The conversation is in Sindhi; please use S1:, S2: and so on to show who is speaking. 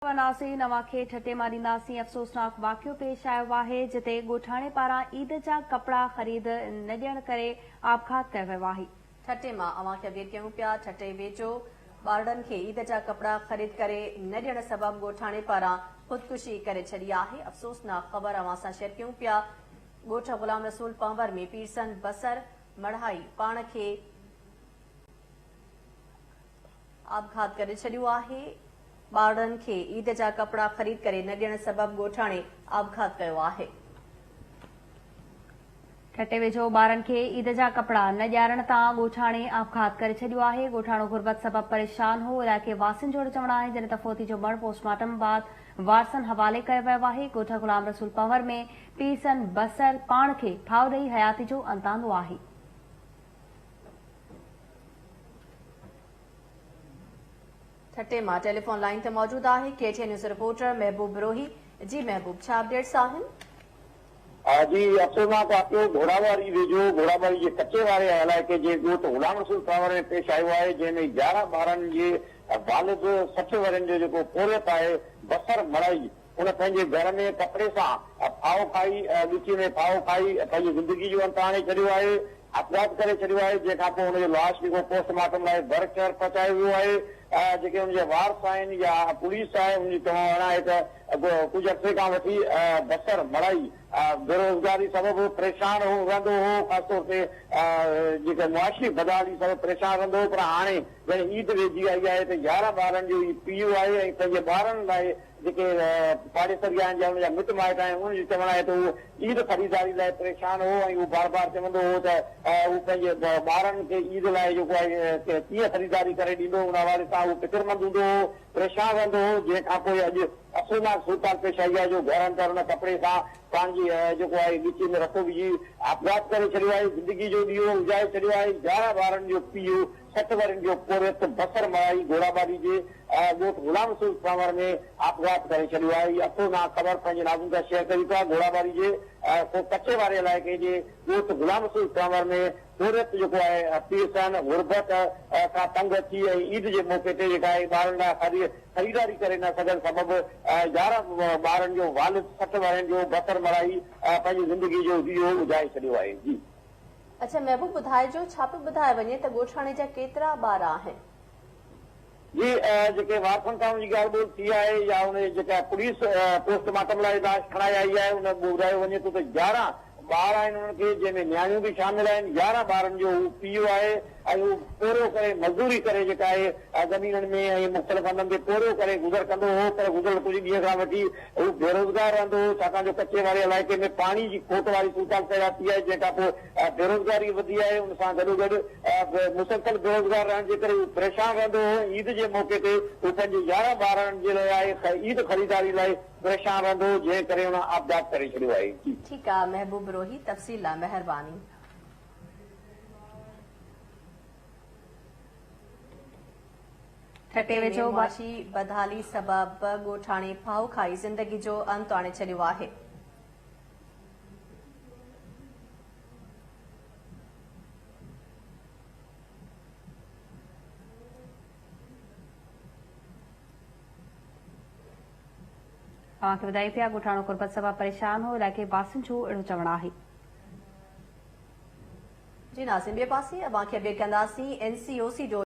S1: وناسين اوهان کي ٺٽي مان ڏينداسين افسوسناڪ واقعو پيش آيو آهي جتي ڳوٺاڻي پاران عيد جا ڪپڙا خريد نه ڏيڻ ڪري آپگهات ڪيو ويو آهي. ٺٽي مان اوهان کي
S2: اپڊيٽ ڪيون پيا ٺٽي ويجهو ٻارڙن کي عيد جا ڪپڙا خريد ڪري نه ڏيڻ سبب ڳوٺاڻي پاران خودڪشي ڪري ڇڏي آهي افسوسناڪ خبر اوهان سان شيئر ڪيون پيا ڳوٺ غلام رسول پنهور ۾ پيرسن بصر مڙهائي پاڻ کي آپگهات ڪري ڇڏيو آهي، ٻارڙن کي عيد جا ڪپڙا خريد ڪري نه ڏيڻ سبب ڳوٺاڻي
S1: آپگهات ڪيو آهي. ٺٽي ويجهو ٻارن کي عيد جا ڪپڙا نه ڏيارڻ تان ڳوٺاڻي آپگهات ڪري ڇڏيو آهي، ڳوٺاڻو غربت سبب پريشان هو، علائقي واسين جو اهڙو چوڻ آهي جڏهن ته فوتي جو مڙهه پوسٽ مارٽم بعد وارثن حوالي ڪيو ويو آهي، ڳوٺ غلام رسول پنهور ۾ پيرسن بصر پاڻ کي ڦاهه ڏئي حياتي جو انت آندو آهي.
S2: ٺٽي مان ٽيليفون لائين تي موجود آهي K T news reporter Mehboob Brohi جي محبوب ڇا اپڊيٽس آهن
S3: جي افسوسناڪ واقعو گهوڙاواري ويجهو گهوڙاواري جي ڪچي واري علائقي جي ڳوٺ غلام رسول ڪانور ۾ پيش آيو آهي جنهن ۾ يارهن ٻارن جي والد سٺ ورهين جو جيڪو پورهيت آهي بصر مڙائي هن پنهنجي گهر ۾ ڪپڙي سان ڦاهو کائي، ڳچيء ۾ ڦاهو کائي پنهنجي زندگيء جو انت آڻي ڇڏيو آهي، اپگهات ڪري ڇڏيو آهي، جنهن کان پوء هن جو لاش رڳو پوسٽ مارٽم لاء ڀر شهر پهچايو ويو آهي، جيڪي هن جا وارث آهن يا پوليس آهي ان جو چوڻ اهڙان آهي ته ڪجهه عرصي کان وٺي بصر مڙائي بيروزگاري سبب پريشان رهندو هو، خاص طور تي جيڪي معاشي بدحالي سبب پريشان رهندو هو پر هاڻي ڄڻ عيد ويجهي آئي آهي ته يارهن ٻارن جو هي پيء آهي ۽ پنهنجي ٻارن لاء جيڪي پاڙيسري آهن يا ان جا مٽ مائٽ آهن، انهن جو چوڻ آهي ته هو عيد خريداري لاء پريشان هو ۽ هو بار بار چوندو هو ته هو پنهنجي ٻارڙن کي عيد لاء جيڪو آهي ڪيئن خريداري ڪري ڏيندو، ان حوالي سان هو فڪرمند هوندو هو، پريشان رهندو هو، جنهن کان پوء اڄ افسوسناڪ صورتحال پيش آئي آهي جو گهر اندر ان ڪپڙي سان پاڻ جي جيڪو آهي ڳچيء ۾ رسو وجهي آپگهات ڪري ڇڏيو آهي، زندگيء جو ڏيئو اجهائي ڇڏيو آهي، يارهن ٻارڙن جو پيء ست ورهين جو پورهيت بصر مڙائي گوڙابالي جي ڳوٺ غلام رسول سانور ۾ آپگهات ڪري ڇڏيو آهي. اٿو نانء خبر پنهنجي ناظرن سان شيئر ڪريون ٿا. گوڙابالي جي ڪو ڪچي واري علائقي جي ڳوٺ غلام رسول سانور ۾ پورهيت جيڪو آهي پيسن، غربت، کان تنگ اچي ۽ عيد جي موقعي تي جيڪا آهي ٻارن لاء خريداري ڪري نه سگهڻ سبب يارهن ٻارن جو والد سٺ ورهين جو بصر مڙائي پنهنجي زندگي جو ڏيئو اجهائي ڇڏيو آهي. جي. اڇا محبوب
S2: ٻڌائجو ڇا پيو ٻڌائي وڃي ته ڳوٺاڻي جا ڪيترا ٻار آهن.
S3: جي جيڪي وارثن سان ان جي ڳالهه ٻولهه ٿي آهي يا ان جي جيڪا پوليس پوسٽ مارٽم لاء لاش کڻائي آئي آهي ان ۾ ٻڌايو وڃي ٿو ته يارهن ٻار آهن انهن کي جنهن ۾ نياڻيون به شامل آهن يارهن ٻارن جو هو پيء آهي ۽ هو پورهيو ڪري مزدوري ڪري جيڪا آهي زمينن ۾ ۽ مختلف هنڌن تي پورهيو ڪري گذر ڪندو هو پر گذريل ڪجهه ڏينهن کان وٺي هو بيروزگار رهندو هو، ڇاڪاڻ جو ڪچي واري علائقي ۾ پاڻي جي کوٽ واري صورتحال پيدا ٿي آهي، جنهن کانپوء بيروزگاري وڌي آهي، ان سان گڏوگڏ به مسلسل بيروزگار رهڻ جي ڪري هو پريشان رهندو هو، عيد جي موقعي تي هو پنهنجي يارهن ٻارڙن جي لاء عيد خريداري لاء پريشان رهندو هو، جنهن ڪري هن آپگهات ڪري ڇڏيو آهي. ٺيڪ آ محبوب
S2: روهي تفصيل لا مهرباني.
S1: ٺٽي ۾ معاشي بدحالي
S2: سبب ڳوٺاڻي ڦاهو کائي زندگي جو انت آڻي ڇڏيو آهي.
S1: اوهان کي ٻڌايون پيا ڳوٺاڻو غربت سبب پريشان هو علائقي واسين جو اهڙو چوڻ آهي.
S2: جي ناظرين ٻئي پاسي اوهان کي اپڊيٽ ڪنداسين اين سي او سي جو